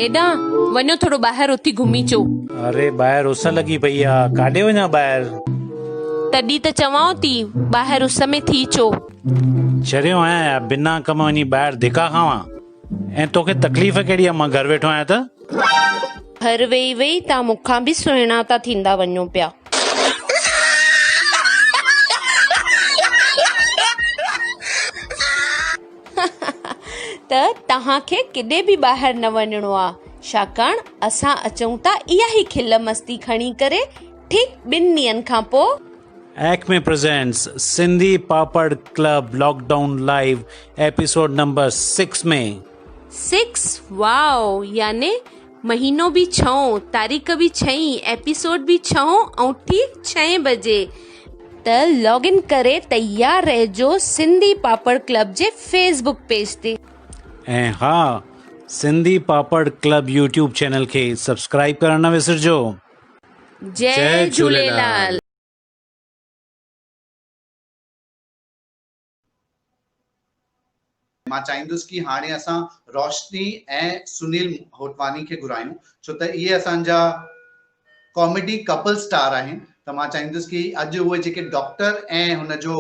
هيڏانهن وڃو ٿورو ٻاهر اٿي گهمي اچو اري ٻاهر اس لڳي پئي آهي ڪاڏي وڃان ٻاهر تڏي ته چوان ٿي ٻاهر اس ۾ ٿي اچو چريو آهيان بنا ڪم وڃي ٻاهر ڌڪا کاوان ۽ توکي تڪليف ڪهڙي آهي مان گهر ويٺو آهيان ته. گهر ويهي ويهي توهان مون کان به سهڻا ٿا ٿيندا وڃو پيا. ته توهان کي ڪيڏي به ٻاهر نه وڃڻو آهي ڇاڪاڻ اسان اچون ٿا اها ئي کل مستي کڻي ڪري ٺيڪ ٻن ڏينهن کان پوء. Acme Presents Sindhi Papad club lockdown live episode number six ۾ six واء يعني مهينو به ڇهون تاريخ به ڇهين ايپيسوڊ به ڇهون ۽ ٺيڪ ڇهين بجي ته لاگ ان ڪري تيار رهجو سنڌي پاپڙ ڪلب جي فيس بوڪ پيج تي. ۽ ها Sindhi Papad club YouTube channel کي سبسڪرائيب ڪرڻ نه وسرجو. جئي جهوليلال. مان چاهيندس ڪي هاڻي اسان روشني ۽ سنيل هوتواني کي گهرايون ڇو ته اهي اسان جا ڪاميڊي ڪپل اسٽار آهن ته مان چاهيندس ڪي اڄ اهي جيڪي ڊاڪٽر ۽ هن جو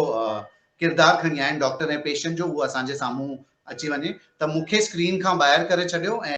ڪردار کڻي آيا آهن ڊاڪٽر ۽ پيشنٽ جو اهو اسان جي سامهون اچي وڃي ته مون کي اسڪرين کان ٻاهر ڪري ڇڏيو ۽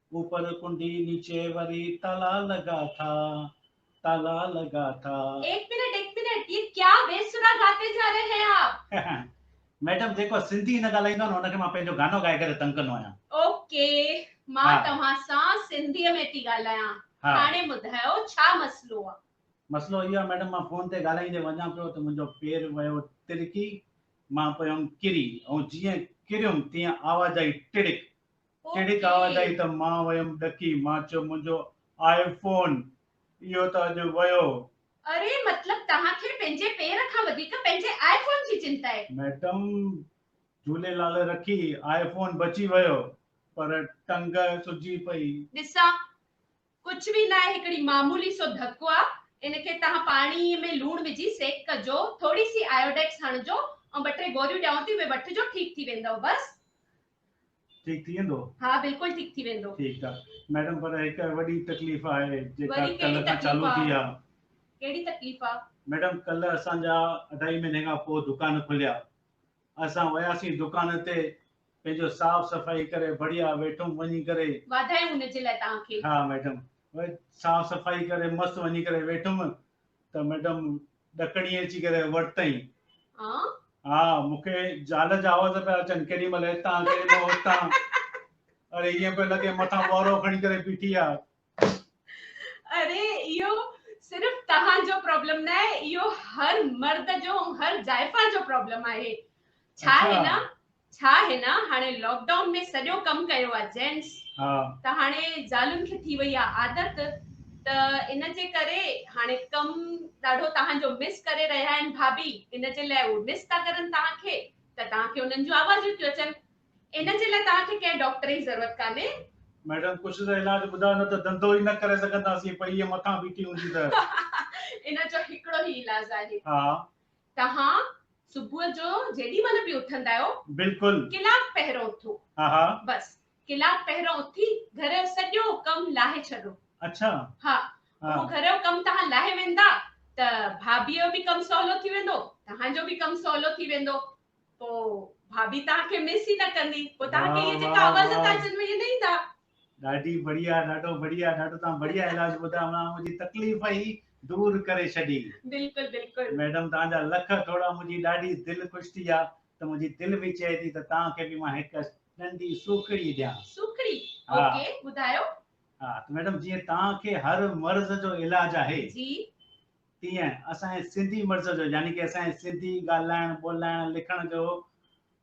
اوپر ڪنڊي نيچي وري تالا لڳا ٿا تالا لڳا ٿا. ايڪ منٽ ايڪ منٽ يي ڪيا بي سرا گاتي جا رھي ھي آپ. ميڊم جيڪو سنڌي نه ڳالھائيندو آھي نه ان کي مان پنھنجو گانو ڳائي ڪري تنگ ڪندو آھيان. اوڪي مان توھان سان سنڌي ۾ ٿي ڳالھايان ھاڻي ٻڌايو ڇا مسئلو آ. مسئلو اھو آ ميڊم مان فون تي ڳالھائيندي وڃان پيو ته منھنجو پير ويو ترڪي مان پيم ڪري ۽ جيئن ڪريم تيئن آواز آئي ٽڙڪ ڪهڙي ڪاوڙ اٿئي ته مان ويم ڏڪي مان چيو منهنجو آء فون اهو ته اڄ ويو. اري مطلب توهان کي پنهنجي پير کان وڌيڪ پنهنجي آء فون جي چنتا آهي. ميڊم جهوليلال رکي آء فون بچي ويو پر ٽنگ سجي پئي. ڏسان ڪجهه به ناهي هڪڙي معمولي سو ڌڪو آ ان کي توهان پاڻي ۾ لوڻ وجهي سيڪ ڪجو ٿوري سي آيوڊيڪس هڻجو ۽ ٻه ٽي گوريون ڏيانو ٿي اهي وٺجو ٺيڪ ٿي ويندؤ بس ٺيڪ ٿي ويندو؟ ها بلڪل ٺيڪ ٿي ويندو. ٺيڪ آ ميڊم پر هڪ وڏي تڪليف آهي جيڪا ڪلهه کان چالو ٿي آ. ڪهڙي تڪليف آ؟ ميڊم ڪلهه اسان جا اڍائي مهيني کان پوء دڪان کليا اسان وياسين دڪان تي پنهنجو صاف صفائي ڪري بڙيا ويٺم وڃي ڪري. واڌايون ان جي لاء توهان کي. ها ميڊم صاف صفائي ڪري مست وڃي ڪري ويٺم ته ميڊم ڏڪڻي اچي ڪري ورتئين. ها، مون کي زال جا آواز پيا اچن، ڪيڏي مهل هتان، ڪيڏي مهل هتان. اڙي ائين پيو لڳي مٿان ٻوارو کڻي ڪري بيٺي آ. اڙي اهو صرف توهان جو پرابلم نه آهي، اهو هر مرد جو ۽ هر زائفا جو پرابلم آهي. ڇا آهي نه، ڇا هن هاڻي لاڪ ڊائون ۾ سڄو ڪم ڪيو آ جينٽس ته هاڻي زالن کي ٿي وئي آ عادت ته ان جي ڪري هاڻي ڪم ڏاڍو توهان جو مس ڪري رهيا آهن ڀاڀي ان جي لاء اهي مس ٿا ڪرن توهان کي ته توهان کي انهن جون آوازيون ٿيون اچن ان جي لاء توهان کي ڪنهن ڊاڪٽر جي ضرورت ڪانهي. ميڊم ڪجهه ته علاج ٻڌايو نه ته ڌنڌو ئي نه ڪري سگهنداسين پئي ائين مٿان بيٺي هوندي ته. ان جو هڪڙو ئي علاج آهي. ها. توهان صبح جو جيڏي مهل به اٿندا آهيو. بلڪل. ڪلاڪ پهرئون اٿو. ها ها. بس ڪلاڪ پهرئون اٿي گهر جو سڄو ڪم لاهي ڇڏو. اڇا. ها. اهو گهر جو ڪم توهان لاهي ويندا ته ڀاڀيء جو به ڪم سولو ٿي ويندو، توهان جو به ڪم سولو ٿي ويندو. پوء ڀاڀي توهان کي مس ئي نه ڪندي. پوء توهان کي اهي جيڪا عوض ٿا اچن اهي نه ايندا. ڏاڍي بڙيا ڏاڍو بڙيا ڏاڍو تان بڙيا علاج ٻڌايو منا منهنجي تڪليف ئي دور ڪري ڇڏي. بلڪل بلڪل. ميڊم تان جا لک ٿوڙا منهنجي ڏاڍي دل خوش ٿي آ ته منهنجي دل به چئي ٿي ته تان کي به مان هڪ ننڍي سوکڙي ڏيان. سوکڙي اوڪي ٻڌايو. ها ته ميڊم جيئن تان کي هر مرض جو علاج آهي جي تيئن اسان جي سنڌي مرض جو يعني ڪي اسان جي سنڌي ڳالهائڻ ٻولهائڻ لکڻ جو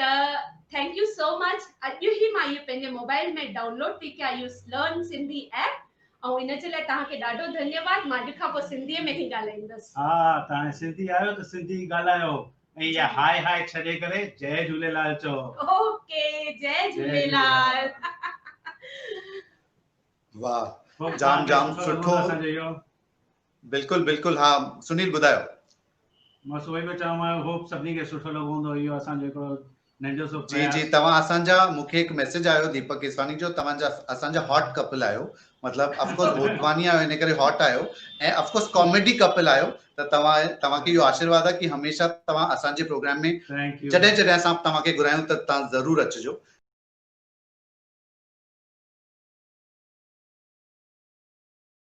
ته ٿينڪ يو سو مچ اڄ هي مان اهي پنهنجي موبائل ۾ ڊائونلوڊ پي ڪيا اهو لرن سنڌي ايپ ۽ ان جي لاء توهان کي ڏاڍو ڌنيواد مان اڄ کان پوء سنڌي ۾ ئي ڳالهائيندس. ها ته هاڻي سنڌي آهيو ته سنڌي ئي ڳالهايو ۽ اها هائي هائي ڇڏي ڪري جئي جهوليلال چئو. اوڪي جئي جهوليلال. واھ جام جام سٺو. بلڪل بلڪل ها سنيل ٻڌايو. مان سو ئي پيو چوان آئي هوپ سڀني کي سٺو لڳو هوندو اهو اسان جو هڪڙو ننڍو سو جي جي توهان اسان جا مون کي هڪ ميسج آيو ديپڪ ڪيسواني جو توهان جا اسان جا هاٽ ڪپل آهيو مطلب اف ڪورس هوٽواني آهيو ان ڪري هاٽ آهيو ۽ اف ڪورس ڪاميڊي ڪپل آهيو ته توهان توهان کي اهو آشيرواد آهي ڪي هميشه توهان اسان جي پروگرام ۾ جڏهن جڏهن اسان توهان کي گهرايون ته توهان ضرور اچجو